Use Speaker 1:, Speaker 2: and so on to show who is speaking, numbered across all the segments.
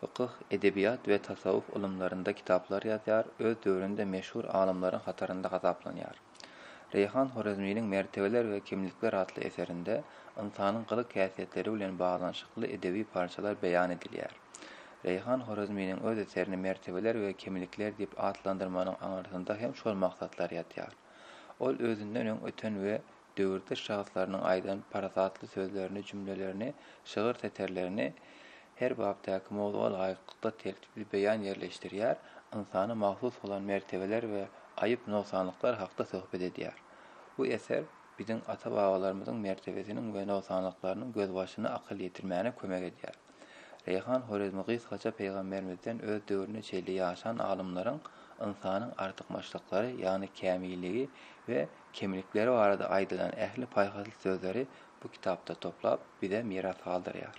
Speaker 1: Fykyh, edebiýat we tasawwuf ylymlarynda kitaplar ýazýar, öz döwründe meşhur alymlaryň hatarynda hasaplanýar. Reýhan Horezminiň Mertebeler we kimlikler atly eserinde ynsanyň gylyk-häsiýetleri bilen baglanyşykly edebi parçalar beýan edilýär. Reýhan Horezminiň öz eserini Mertebeler we kimlikler diýip atlandyrmanyň aňyrsynda hem şol maksatlar ýatýar. Ol özünden öň öten we döwürdeş şahslarynyň aýdan parasatly sözlerini, jümlelerini, şygyr setirlerini her bapdaky mowzuga laýyklykda tertipli beýan ýerleşdirýär, ynsana mahsus bolan mertebeler we aýyp-nogsanlyklar hakda söhbet edýär. Bu eser biziň ata-babalarymyzyň mertebesiniň we nogsanlyklarynyň gözbaşyna akyl ýetirmäne kömek edýär. Reýhan Horezmi gysgaça Pygamberimizden öz döwrüne çenli ýaşan alymlaryň ynsanyň artykmaçlyklary, ýagny kämilligi we kemlikleri barada aýdylan ähli paýhasly sözleri bu kitapda toplap, bize miras galdyrýar.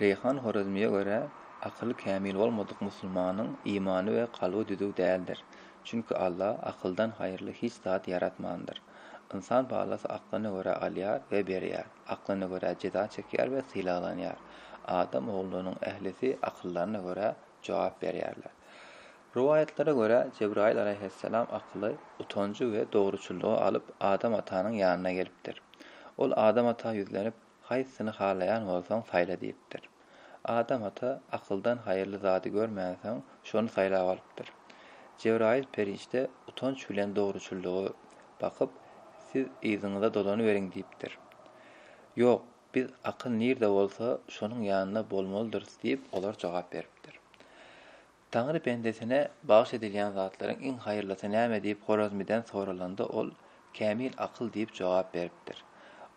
Speaker 1: Reýhan Horezmiýe görä, akyly kämil bolmadyk musulmanyň imany we kalby düzüw däldir. Çünki Alla akyldan haýyrly hiç zat ýaratmandyr. Ynsan balasy aklyna görä alýar we berýär. Aklyna görä jeza çekýär we sylaglanýar. Adam ogullarynyň ählisi akyllaryna görä jogap berýärler. Rowaýatlara görä, Jebraýyl alaýhyssalam akyly, utanjy we dogruçyllygy alyp Adam atanyň ýanyna gelipdir. Ol Adam ata ýüzlenip, Haýsysyny halaýan bolsaň, saýla diýipdir. Adam ata akyldan haýyrly zady görmänsoň, şony saýlap alypdyr. Jebraýyl perişde utanç bilen dogruçyllygy bakyp, Siz yzyňyza dolanyberiň diýipdir. Ýok, biz akyl nirde bolsa, şonuň ýanynda bolmalydyrys diýip, olar jogap beripdir. Taňry bendesine bagyş edilýän zatlaryň iň haýyrlysy näme diýip Horezmiden soralanda ol, Kämil akyl diýip jogap beripdir.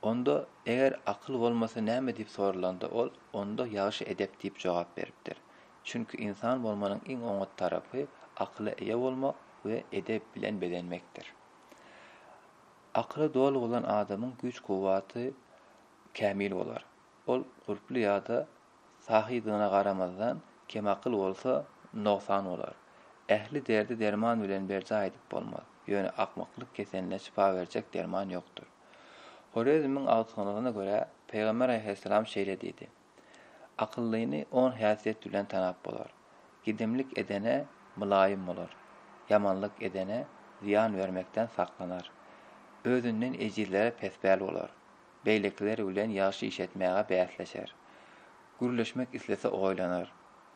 Speaker 1: Onda, eger akyl bolmasa näme diýip soralanda ol, Onda ýagşy edep diýip jogap beripdir. Çünki ynsan bolmanyň iň oňat tarapy akyla eýe bolmak we edep bilen bezenmekdir. Akyly doly bolan adamyň güýç-kuwwaty kämil bolar. Ol gulply ýa-da sahydygyna garamazdan, kemakyl bolsa, nogsan bolar. Ähli derdi derman bilen berjaý edip bolmaz. Ýöne akmaklyk keseline şypa berjek derman ýokdur. Horezmiň agtygynyna görä, Pygamber alaýhyssalam şeýle diýdi, Akyllyny on häsiýet bilen tanap bolar, Gedemlik edene mylaýym bolar, ýamanlyk edene zyýan bermekden saklanar, özünden ejizlere pespäl bolar, beýlekiler bilen ýagşy iş etmäge bäsleşer. Gürleşmek islese oýlanar,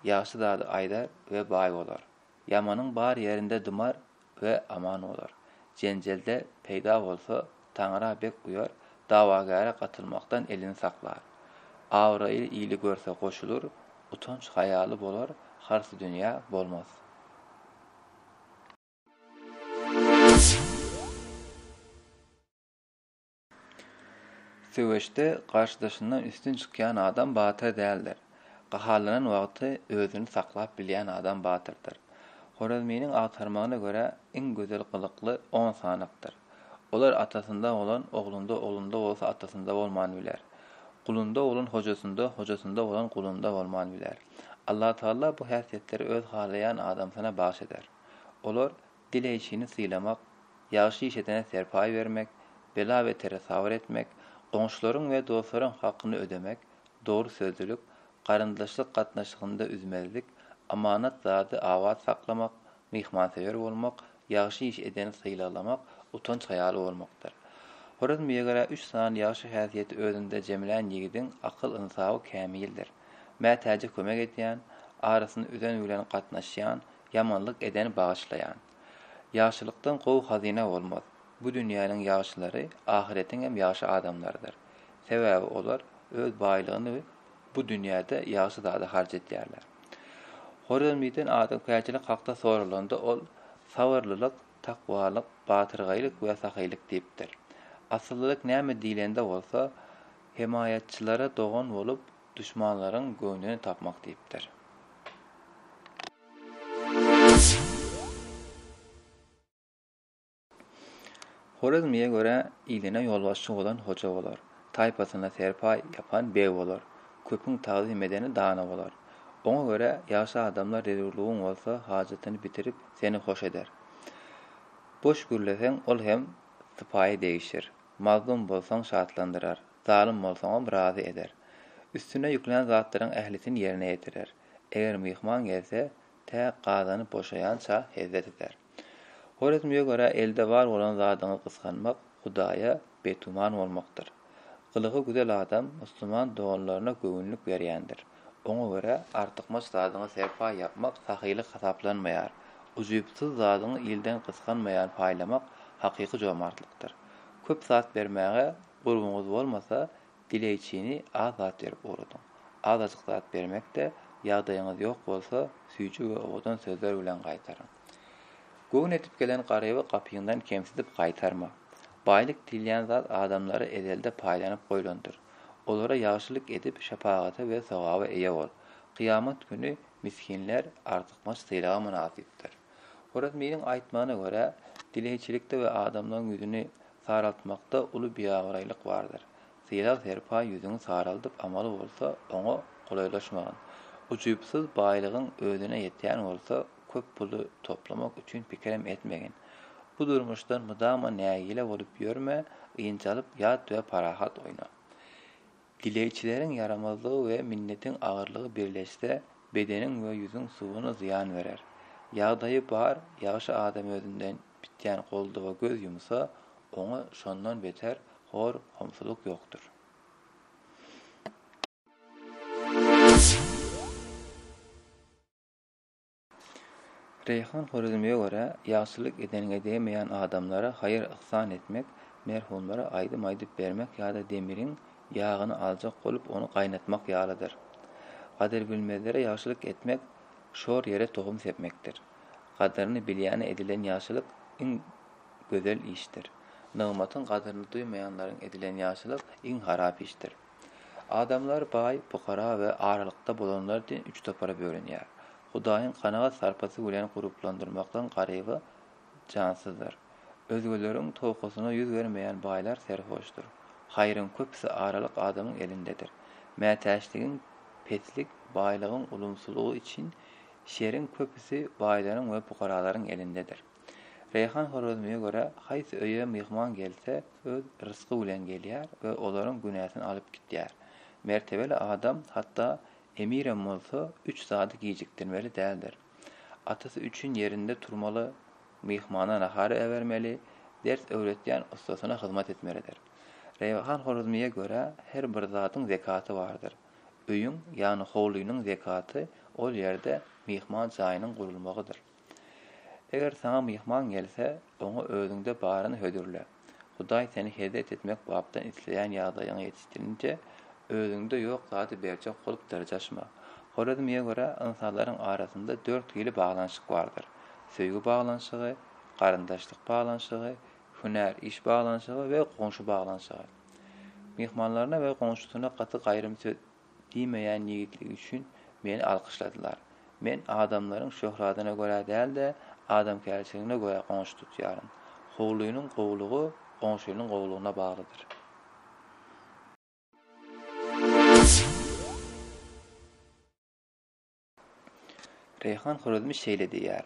Speaker 1: ýagşy zady aýdar we baý bolar. Ýamanyň bar ýerinde dymar we aman bolar. Jenjelde peýda bolsa, Taňra bek uýar, dawagäre gatylmakdan elini saklar. Abraýly ili görse goşulyr, utanç-haýaly bolar, harsy dünýä bolmaz. Söweşde garşydaşyndan üstün çykýan adam batyr däldir. Gahalanan wagty özüni saklap bilýän adam batyrdyr. Horezminiň agtarmagyna görä, iň gözel gylykly on sanakdyr. Olar atasynda bolan oglunda, oglunda bolsa atasynda bolman biler. Gulunda bolan hojasynda, hojasynda bolan gulunda bolman biler. Allatagala bu häsiýetleri öz halaýan adamsyna bagyş eder. Olar Dileýjini sylamak, ýagşy iş edene serpaý bermek, bela-betere sabyr etmek, goňşularyň we dostlaryň hakyny ödemek, dogry sözlülik, garyndaşlyk gatnaşygynda üzmezlik, amanat zady abat saklamak, myhmansöýer bolmak, ýagşy iş edeni sylaglamak, utanç haýaly bolmakdyr. Horezmiýe görä üç sany ýagşy häsiýeti özünde jemlän ýigidiň akyl-ynsaby kämildir. Mätäje kömek edýän, arasyny üzen bilen gatnaşýan, Ýamanlyk edeni bagyşlaýan. Ýagşylykdan gowy hazyna bolmaz. Bu dünýäniň ýagşylary ahyretiň hem ýagşy adamlarydyr. Sebäbi olar öz baýlygyny bu dünýäde ýagşy zada harç edýärler. Horezmiden adamkärçilik hakda soralanda ol, Sabyrlylyk, takwalyk, batyrgaýlyk we sahylyk diýipdir. Asyllylyk näme diýlende bolsa, hemaýatçylara dogan bolup, Duşmanlaryň göwnüni tapmak diýipdir. Horezmliýe görä, iline ýolbaşçy bolan hoja bolar, taýpasyna serpaý ýapan beg bolar, köpüň tagzym edeni dana bolar. Oňa görä, ýagşy adamlar zerurlygyň bolsa hajatyny bitirip, seni hoş eder. Boş gürleseň, ol hem sypaýy degişir, mazlum bolsaň, şatlandyrar. Zalym bolsaňam razy eder. Üstüne ýüklän zatlaryň ählisini ýerine ýetirer. Eger myhman gelse, tä gazany boşaýança hezzet eder. Horezmige görä elde bar bolan zadyňy gysganmak Hudaýa betuman bolmakdyr. Gylygy güzel adam musulman doganlaryna göwünlik berýändir. Oňa görä artykmaç zadyňa serpaý ýapmak sahylyk hasaplanmaýar. Ujypsyz zadyňy ilden gysganmaýan paýlamak hakyky jomartlykdyr. Köp zat bermäge Gurbuňyz bolmasa, dileýçini az zat berip ugradyň. Azajyk zat bermek-de, ýagdaýyňyz ýok bolsa, süýji we owadan sözler bilen gaýtaryň. Göwün edip gelen garyby gapyňdan kemsidip gaýtarma. Baýlyk diýilýän zat adamlara ezelde paýlanyp goýlandyr. Olara ýagşylyk edip, şepagata we sogaba eýe bol. Kyýamat güni misginler artykmaç sylaga mynasypdyr. Horezminiň aýtmagyna görä, dileýçilikde we adamlaryň ýüzüni Saraltmakda uly biabraýlyk bardyr. Sylag-serpaý ýüzüňi saraldyp amaly bolsa, oňa golaýlaşmagyn. Ujypsyz baýlygyň özüne ýetýän bolsa, köp puly toplamak üçin pikirem etmegin. Bu durmuşdan mydama nägile bolup ýörme, ynjalyp ýat we parahat oýna. Dilegçileriň ýaramazlygy we minnetiň agyrlygy birleşse, bedeniň we ýüzüň suwuna zyýan berer. Ýagdaýy bar, ýagşy adam özünden bitýän goldawa göz ýumsa, oňa şondan beter hor, homsulyk ýokdur. Reýhan Horezmiýa görä, ýagşylyk edeniňe degmeýän adamlara haýyr-yhsan etmek, merhumlara aýdym aýdyp bermek ýa-da demiriň ýagyny aljak bolup ony gaýnatmak ýalydyr. Gadyrbilmezlere ýagşylyk etmek şor ýere tohum sepmekdir. Gadyryny bilýäne edilen ýagşylyk iň gözel işdir. Nygmatyň gadyryny duýmaýanlaryň edilen ýagşylyk iň harap işdir. Adamlar baý, pukara we aralykda bolanlar diýen üç topara bölünýär. Hudaýyň kanagat sarpasy bilen guruplandyrmakdan garyby jansyzdyr. Özgeleriň towkasyna ýüz bermeýän baýlar serhoşdur. Haýryň köpüsi aralyk adamyň elindedir. Mätäçligiň, peslik, baýlygyň ulumsylygy üçin şeriň köpüsi baýlaryň we pukaralaryň elindedir. Reýhan Horezmiýe görä, haýsy öýe myhman gelse, öz rysgy bilen gelýär we olaryň günäsini alyp gitýär. Mertebeli adam, hatda emirem bolsa, üç zady gijikdirmeli däldir. Atasy üçin ýerinde turmaly, myhmana nahar äbermeli, ders öwretýän ussasyna hyzmat etmelidir. Reýhan Horezmiýe görä, her bir zadyň zekaty bardyr. Öýüň, ýagny howlynyň zekaty ol ýerde myhman jaýynyň gurulmagydyr. Eger saňa myhman gelse, oňa özüňde baryny hödürle. Hudaý seni hezret etmek bapdan isleýän ýagdaýyňa ýetişdirince, özüňde ýok zady berjek bolup dyrjaşma. Horezmiýe görä, ynsanlaryň arasynda dört hili baglanyşyk bardyr, söýgi baglanyşygy, garyndaşlyk baglanyşygy, hünär, iş baglanyşygy we goňşy baglanyşygy. Myhmanlaryna we goňşusyna gaty gaýrym söz Diýmeýän ýigitligi üçin meni alkyşladylar. Men adamlaryň şöhradyna görä däl-de, adamkärçiligine görä goňşy tutýaryn. Howlynyň gowulygy goňşynyň gowulygyna baglydyr. Reýhan Horezmi şeýle diýýär,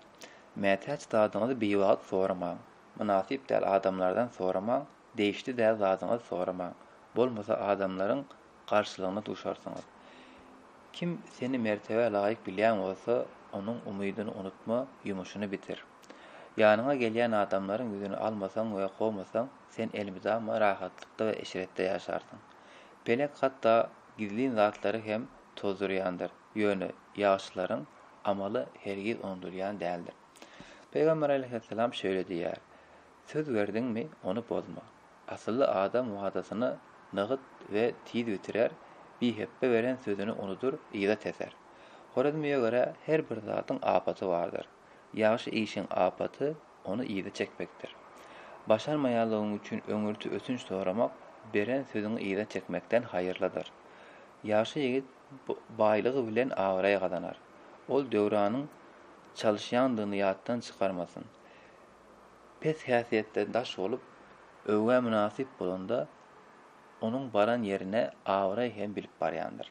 Speaker 1: Mätäç zadyňyzy biwagt soramaň, mynasyp däl adamlardan soramaň, degişli däl zadyňyzy soramaň, bolmasa adamlaryň garşylygyna duşarsyňyz. Kim seni mertebä laýyk bilýän bolsa, onuň umydyny unutma, ýumuşyny bitir. Ýanyňa gelýän adamlaryň ýüzüni almasaň we kowmasaň, sen elmydama rahatlykda we eşretde ýaşarsyň. Pelek hatda gizlin zatlary hem tozdurýandyr. ýöne ýagşylaryň amaly hergiz unudylýan däldir. Pygamber aleýhissalam şeýle diýýär, Söz berdiňmi, ony bozma. Asylly adam wadasyny nygyt we tiz bitirer, bihepbe beren sözüni unudyr, yza teser. Horezmiýe görä her bir zadyň apaty bardyr. Ýagşy işiň apaty ony yza çekmekdir. Başarmaýanlygyň üçin öňürti ötünç soramak beren sözüňi yza çekmekden haýyrlydyr. Ýagşy ýigit baýlygy bilen abraý gazanar. Ol Döwranyň çalyşýandygyny ýatdan çykarmasyn. Pes häsiýetden daş bolup, öwgä mynasyp bolanda, onuň baran ýerine abraý hem bilip barýandyr.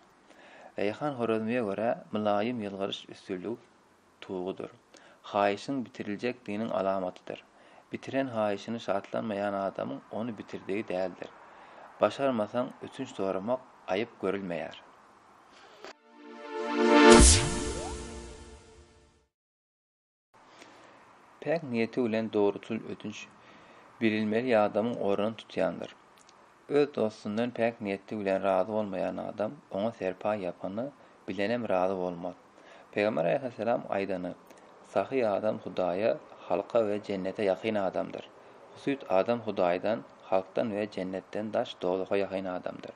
Speaker 1: Reýhan Horezmiýe görä, mylaýym ýylgyryş üstünligi. tugudyr. Haýyşyň bitiriljekdiginiň alamatydyr. Bitiren haýyşyny şatlanmaýan adamyň ony bitirdigi däldir. Başarmasaň ötünç soramak aýyp görülmeýär. Päk niýeti bilen dogruçyl ötünç bilinmeli ýadamyň ornuny tutýandyr. Öz dostundan päk niýetli bilen razy bolmaýan adam oňa serpaý ýapany bilenem razy bolmaz. Pygamber alaýhyssalam aýdany, Sahy adam Hudaýa, halka we jennete ýakyn adamdyr. Husyt adam Hudaýdan, halkdan we jennetden daş dowzaha ýakyn adamdyr.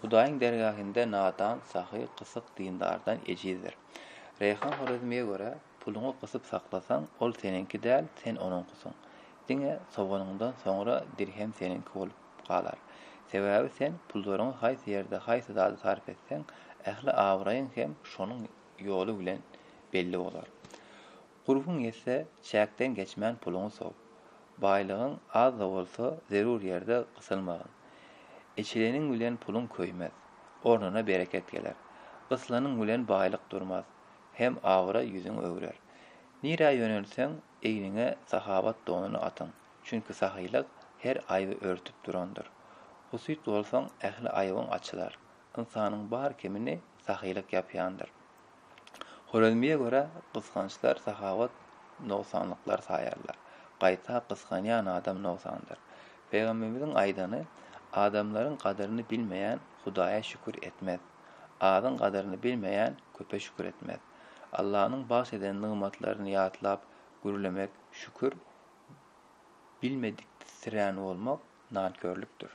Speaker 1: Hudaýyň dergähinde nadan, sahy, gysyk dindardan ejizdir. Reýhan Horezmiýe görä, Puluňy gysyp saklasaň, ol seniňki däl, sen onuňkysyň. Diňe sowanyňdan soňra dirhem seniňki bolup galar. Sebäbi sen pullaryňy haýsy ýerde haýsy zada sarp etseň, ähli abraýyň hem şonuň ýoly bilen belli bolar. Gurbuň ýetse, çäkden geçmän puluňy sow. Baýlygyň az-da bolsa, zerur ýerde gysylmagyn. Eçileniň bilen puluň köýmez. Ornuna bereket geler. Gyslanyň bilen baýlyk durmaz. Hem abraý ýüzüň öwrer. Nirä ýönelseň, egniňe sahawat donuny atyň, çünki sahylyk her aýby örtüp durandyr. Husyt bolsaň, ähli aýbyň açylar. Ynsanyň bar kemini sahylyk ýapýandyr. Horezmiýe görä, gysgançlar sahawat nogsanlyklar saýarlar. Gaýta, gysganýan adam nogsandyr. Pygambemiziň aýdany, Adamlaryň gadyryny bilmeýän Hudaýa şükür etmez. Azyň gadyryny bilmeýän köpe şükür etmez. Allanyň bagş eden nygmatlaryny ýatlap gürlemek şükür, bilmediksirän bolmak nankörlükdir.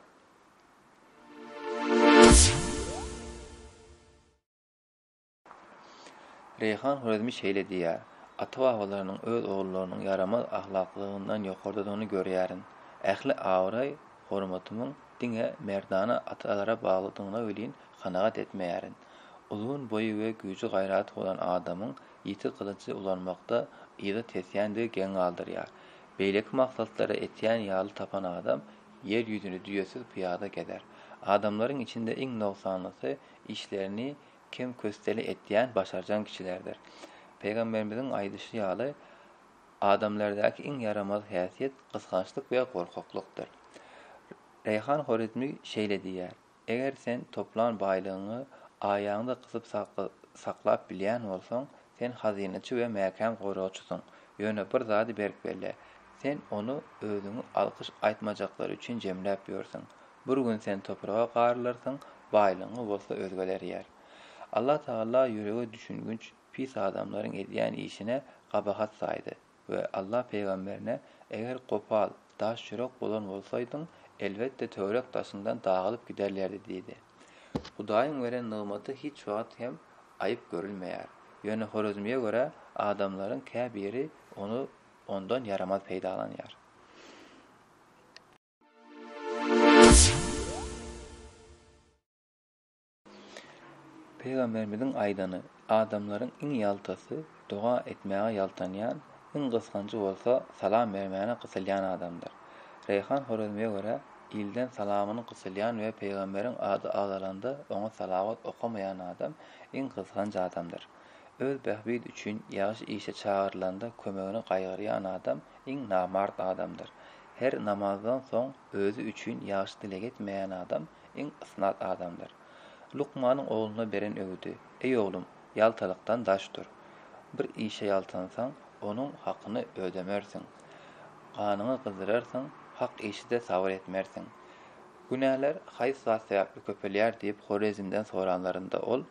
Speaker 1: Reýhan Horezmi şeýle diýýär, Ata-babalarymyň öz ogullarynyň ýaramaz ahlaklygyndan ýokardadygyny görýärin. Ähli abraý Hormatymyň diňe merdana atalara baglydygyna welin kanagat etmeýärin. Uzyn boýy we güýji-gaýraty bolan adamyň ýiti gylyjy ulanmakda yza tesýändigi geň galdyrýar. Beýleki maksatlara etýän ýaly tapan adam ýer ýüzüni düýesiz pyýada gezer. Adamlaryň içinde iň nogsanlysy işlerini kem-kösteli etýän başarjaň kişilerdir. Pygamberimiziň aýdyşy ýaly, Adamlardaky iň ýaramaz häsiýet gysgançlyk we gorkaklykdyr. Reýhan Horezmi şeýle diýýär, Eger sen toplan baýlygyňy aýagyňda gysyp saklap bilýän bolsaň, sen hazynaçy we mäkäm goragçysyň. Ýöne bir zady berk belle, sen ony özüňi alkyş aýtmajaklary üçin jemläp ýörsüň. Bir gün sen topraga garylarsyň, baýlygyňy bolsa özgeler ýer. Allatagala ýürege düşünginç pis adamlaryň edýän işine gabahat saýdy we Allah pygamberine, Eger gopal, daş ýürek bolan bolsaýdyň, elbetde töwerek daşyňdan dagylyp giderlerdi diýdi. Hudaýyň beren nygmaty hiç wagt hem aýyp görülmeýär. Ýöne Horezmiýe görä, adamlaryň kä biri ony ondan ýaramaz peýdalanýar. Pygamberimiziň aýdany, Adamlaryň iň ýaltasy, doga etmäge ýaltanýan, iň gysganjy bolsa salam bermäne gysylýan adamdyr. Reýhan Horezmiýe görä, ilden salamyny gysylýan we pygamberiň ady agzalanda oňa salawat okamaýan adam iň gysganç adamdyr. Öz bähbidi üçin ýagşy işe çagyrylanda kömegini gaýgyrýan adam iň namart adamdyr. Her namazdan soň özi üçin ýagşy dileg etmeýän adam Iň ysnat adamdyr. Lukmanyň ogluna beren öwüdi, Eý oglum, ýaltalykdan daş dur. Bir işe ýaltansaň, onuň hakyny ödemersiň. Ganyňy gyzdyrarsyň, hak işi-de sabyr etmersiň. Günäler haýsy zat sebäpli köpelýär diýip Horezmden soranlarynda ol,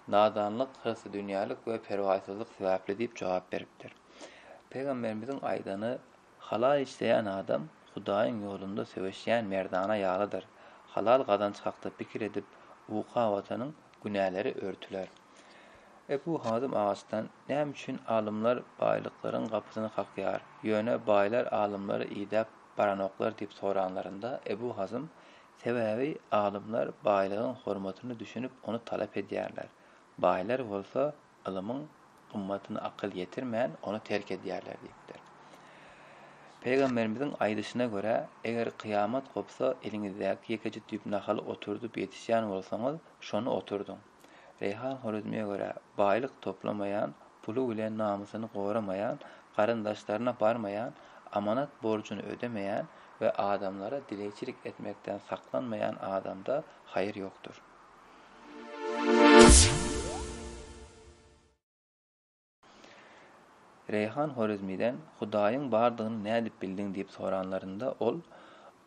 Speaker 1: Nadanlyk, hyrsy-dünýälik we perwaýsyzlyk sebäpli diýip jogap beripdir. Pygamberimiziň aýdany Halal isleýän adam Hudaýyň ýolunda söweşýän merdana ýalydyr. Halal gazanç hakda pikir edip uka batanyň günäleri örtüler. Ebu Hazym agaçdan näme üçin alymlar baýlyklaryň gapysyny kakýar, ýöne baýlar alymlary idäp baranoklar diýip soranlarynda, Ebu Hazym, Sebäbi alymlar baýlygyň hormatyna düşünip ony talap edýärler. Baýlar bolsa Ylymyň gymmatyna akyl ýetirmän, ony terk edýärler diýipdir. Pygamberimiziň aýdyşyna görä, Eger kyýamat gopsa, eliňizdäki ýekeje düýp nahaly oturdyp ýetişýän bolsaňyz, şony oturdyň. Reýhan Horezmiýe görä, baýlyk toplamaýan, puly bilen namysyny goramaýan, garyndaşlaryna barmaýan, amanat borjuny ödemeýän we adamlara dilegçilik etmekden saklanmaýan adamda haýyr ýokdur. Reýhan Horezmiden Hudaýyň bardygyny nädip bildiň diýip soranlarynda ol,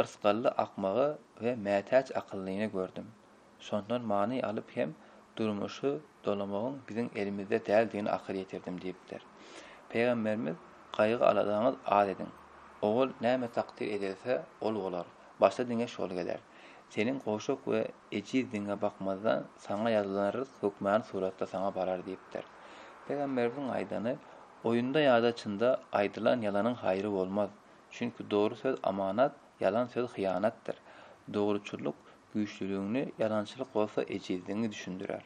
Speaker 1: Yrsgally akmagy we mätäç akyllyny gördüm. Şondan many alyp hem durmuşy dolamagyň biziň elimizde däldigini akyl ýetirdim diýipdir. Pygamberimiz, Gaýgy-aladaňyz az ediň. Owal näme takdyr edilse, ol bolar. Başda diňe şol geler. Seniň goşak we ejiz diňe bakmazdan saňa ýazylan ryzk hökmany suratda saňa barar diýipdir. Pygamberimiziň aýdany, Oýunda ýa-da çynda aýdylan ýalanyň haýry bolmaz. Çünki dogry söz amanat, ýalan söz hyýanatdyr. Dogruçyllyk güýçlüligiňi, ýalançylyk bolsa ejizligiňi düşündirer.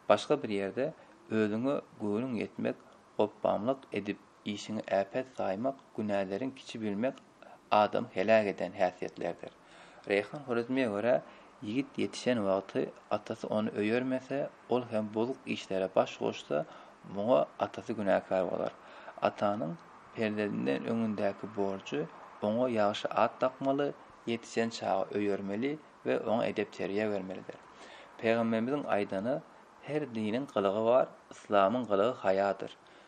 Speaker 1: Başga bir ýerde, Özüňe göwnüň ýetmek, gopbamlyk edip, Işiňi äpet saýmak, günäleriň kiçi bilmek adamy heläk eden häsiýetlerdir. Reýhan Horezmiýä görä, ýigit ýetişen wagty atasy ony öýermese, ol hem bozuk işlere baş goşsa, muňa atasy günäkär bolar. Atanyň perzendinden öňündäki borjy, oňa ýagşy at dakmaly, ýetişen çagy öýermeli we oňa edep-terbiýe bermelidir. Pygambemiziň aýdany, Her diniň gylygy bar, yslamyň gylygy haýadyr.